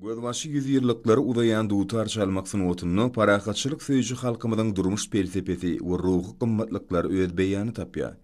Gözbaşy ýüzýyllyklary uzaýan dutar çalmak sungatynda parahatçylyk söýüji halkymyzyň durmuş pelsepesi we ruhy gymmatlyklary öz beýanyny tapýar.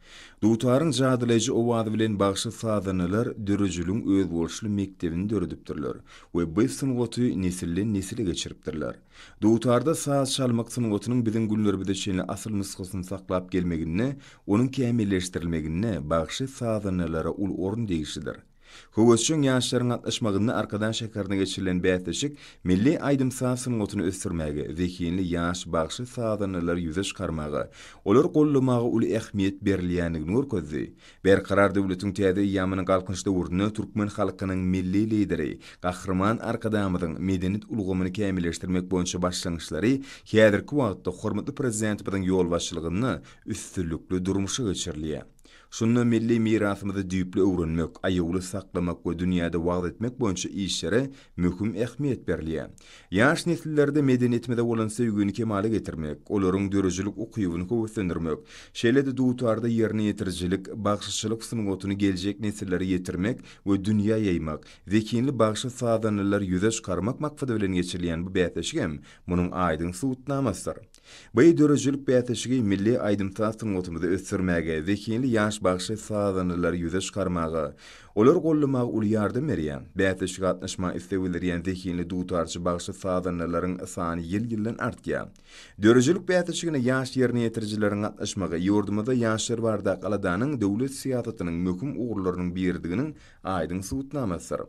Dutaryň jadylaýjy owazy bilen bagşy sazandalar dörejiligiň özboluşly mekdebini döredipdirler we bu sungaty nesilden-nesile geçiripdirler. Dutarda saz çalmak sungatynyň biziň günlerimize çenli asyl nusgasyny saklap gelmeginde, onuň kämilleşdirilmeginde bagşy sazandalara uly orun degişlidir. Höwesjeň ýaşlaryň gatnaşmagynda Arkadag şäherinde geçirilen bäsleşik milli aýdym-saz sungatyny ösdürmäge, zehinli ýaş bagşy-sazandalary ýüze çykarmaga, olary goldamaga uly ähmiýet berilýändigini görkezdi. Berkarar döwletiň täze eýýamynyň Galkynyş döwründe türkmen halkynyň Milli Lideri, Gahryman Arkadagymyzyň medeniýet ulgamyny kämilleşdirmek boýunça başlangyçlary häzirki wagtda hormatly Prezidentimiziň ýolbaşçylygynda üstünlikli durmuşa geçirilýär. Şunda milli mirasymyzy düýpli öwrenmek, aýawly saklamak we dünýäde wagyz etmek boýunça işlere möhüm ähmiýet berilýär. Ýaş nesillerde medeniýetimize bolan söýgini kemala getirmek, olaryň döredijilik ukybyny höweslendirmek, şeýle-de dutarda ýerine ýetirijilik, bagşyçylyk sungatyny geljek nesillere ýetirmek we dünýä ýaýmak, zehinli bagşy-sazandalary ýüze çykarmak maksady bilen geçirilýän bu bäsleşigem munuň aýdyň subutnamasydyr. Bu döredijilik bäsleşigi milli aýdym-saz sungatymyzy ösdürmäge, zehinli ýaş bagşy sazandalary ýüze çykarmaga, olary goldamaga uly ýardam berýär. Bäsleşige gatnaşmaga isleg bildirýän zehinli dutarçy bagşy sazandalaryň sany ýyl-ýyldan artýar. Döredijilik bäsleşigine ýaş ýerine ýetirijileriň gatnaşmagy ýurdumyzda ýaşlar barada Aladanyň döwlet syýasatynyň möhüm ugurlarynyň biridiginiň aýdyň subutnamasydyr.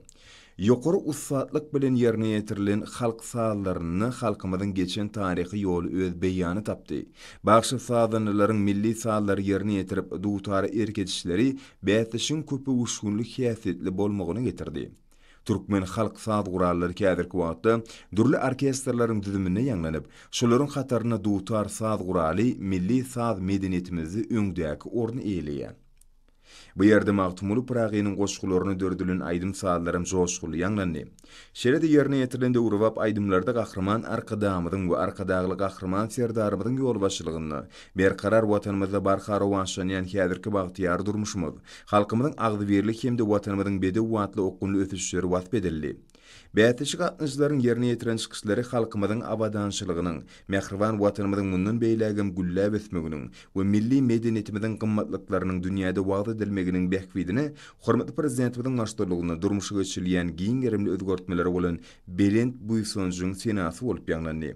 Ýokary ussatlyk bilen ýerine ýetirilen halk sazlarynda halkymyzyň geçen taryhy ýoly öz beýany tapdy. Bagşy sazandalaryň milli sazlary ýerine ýetirip, dutara erk edişleri bäsleşigiň köpöwüşginli häsiýetli bolmagyna getirdi. Türkmen halk saz gurallary häzirki wagtda dürli orkestrleriň düzüminde ýaňlanyp, şolaryň hatarynda dutar saz guraly milli saz medeniýetimizde öňdäki orny eýeleýär. Bu ýerde Magtymguly Pyragynyň goşgularyna döredilen aýdym-sazlaram joşgunly ýaňlandy. Şeýle-de ýerine ýetirilen döwrebap aýdymlarda Gahryman Arkadagymyzyň we Arkadagly Gahryman Serdarymyzyň ýolbaşçylygynda berkarar Watanymyzda barha rowaçlanýan häzirki bagtyýar durmuşymyz, halkymyzyň agzybirlik hem-de Watanymyzyň bedew atly okgunly ösüşleri wasp edildi. Bäsleşik gatnaşyjylaryň ýerine ýetiren çykyşlary halkymyzyň abadançylygynyň, mähriban Watanymyzyň mundan beýlägem gülläp ösmeginiň we milli medeniýetimiziň gymmatlyklarynyň dünýäde wagyz edilmeginiň bähbidine hormatly Prezidentimiziň baştutulygynda durmuşa geçirilýän giň gerimli özgertmelere bolan belent buýsanjyň senasy bolup ýaňlandy.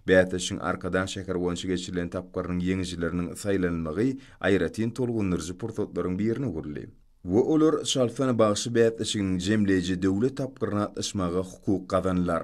Bäsleşigiň Arkadag şäheri boýunça geçirilen tapgyrynyň ýeňijileriniň saýlanylmagy aýratyn tolgundyryjy pursatlaryň birine öwrüldi. we olar çalsan bagşy bäsleşiginiň jemleýji döwlet tapgyryna gatnaşmaga hukuk gazanlar.